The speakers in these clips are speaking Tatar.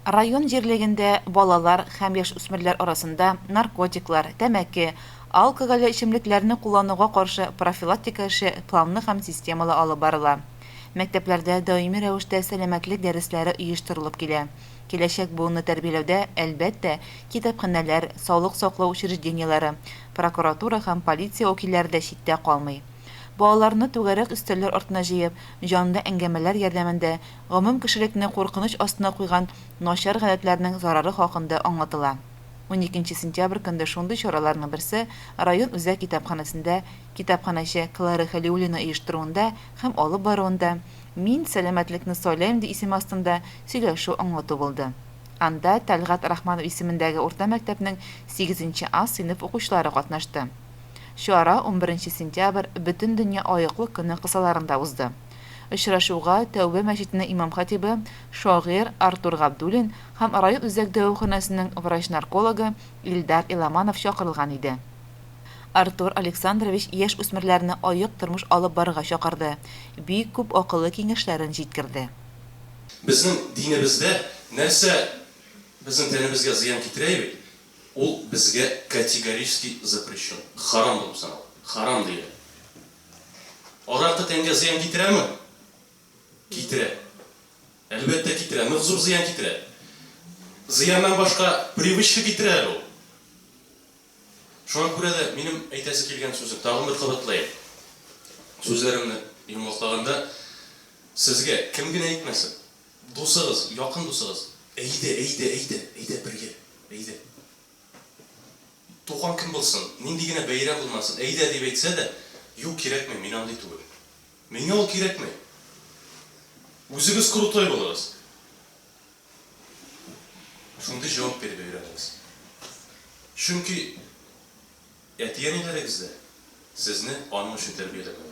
Район җирлегендә балалар һәм яшүсмерләр арасында наркотиклар, тәмәке, алкогольле эчемлекләрне куллануга каршы профилактика эше планлы һәм системалы алып барыла. Мәктәпләрдә даими рәвештә сәламәтлек дәресләре оештырылып килә. Киләчәк буынны тәрбияләүдә, әлбәттә, китапханәләр, саулык саклау учреждениеләре, прокуратура һәм полиция вәкилләре дә читтә калмый. Балаларны түгәрәк өстәлләр артына җыеп, җанлы әңгәмәләр ярдәмендә гомум кешелекне куркыныч астына куйган начар гадәтләрнең зарары хакында аңлатыла. Уникенче сентябрь көнде шундый чараларның берсе район үзәк китапханәсендә китапханәче Клара Хәлиуллина оештыруында һәм алып баруында Мин сәламәтлекне сайлыйм ди исеме астында сөйләшү-аңлату булды. Анда Тәлгать Рахманов исемендәге урта мәктәпнең сигезенче А сыйныф укучылары катнашты. Чара унберенче сентябрь Бөтендөнья аеклык көне кысаларында узды. Очрашуга Тәүбә мәчетенең имам-хатибы, шагыйрь Артур Габдуллин һәм район үзәк дәваханәсенең врач-наркологы Илдар Иламанов чакырылган иде. Артур Александрович яшь-үсмерләрне аек тормыш алып барырга чакырды, бик күп акыллы киңәшләрен җиткерде. Безнең динебездә нәрсә безнең тәнебезгә зыян китерә бит, ул безгә категорически запрещен, харам булып санала, харам диелә. Аракы тәнгә зыян китерәме? Китерә. Әлбәттә, китерә. Нык зур зыян китерә. Зыяннан башка привычка китерә әле ул. Шуңа күрә дә минем әйтәсе килгән сүзем, тагын бер кабатлаем. Сүзләремне йомгаклаганда, сезгә кем генә әйтмәсен, дусыгыз, якын дусыгыз, әйдә, әйдә, әйдә, әйдә бергә, әйдә. Туган көн булсын, нинди генә бәйрәм булмасын, әйдә дип әйтсә дә, Юк, кирәкми, мин андый түгел. Миңа ул кирәкми. Үзегез крутой булыгыз. Шундый җавап биреп өйрәнегез. Чөнки әти-әниләрегез дә сезне аның өчен тәрбияләгән.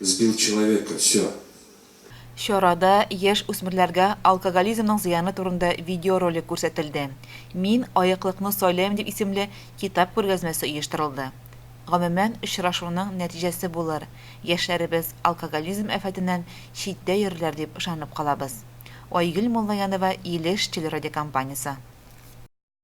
Сбил человека, всё. Чарада яшь үсмерләргә алкоголизмның зыяны турында видеоролик күрсәтелде. Мин аеклыкны сайлыйм дип исемле китап күргәзмәсе оештырылды. Гомумән, очрашуның нәтиҗәсе булыр, яшьләребез алкоголизм афәтеннән читтә йөрерләр дип ышанып калабыз. Айгөл Муллаянова Илеш телерадиокомпаниясе.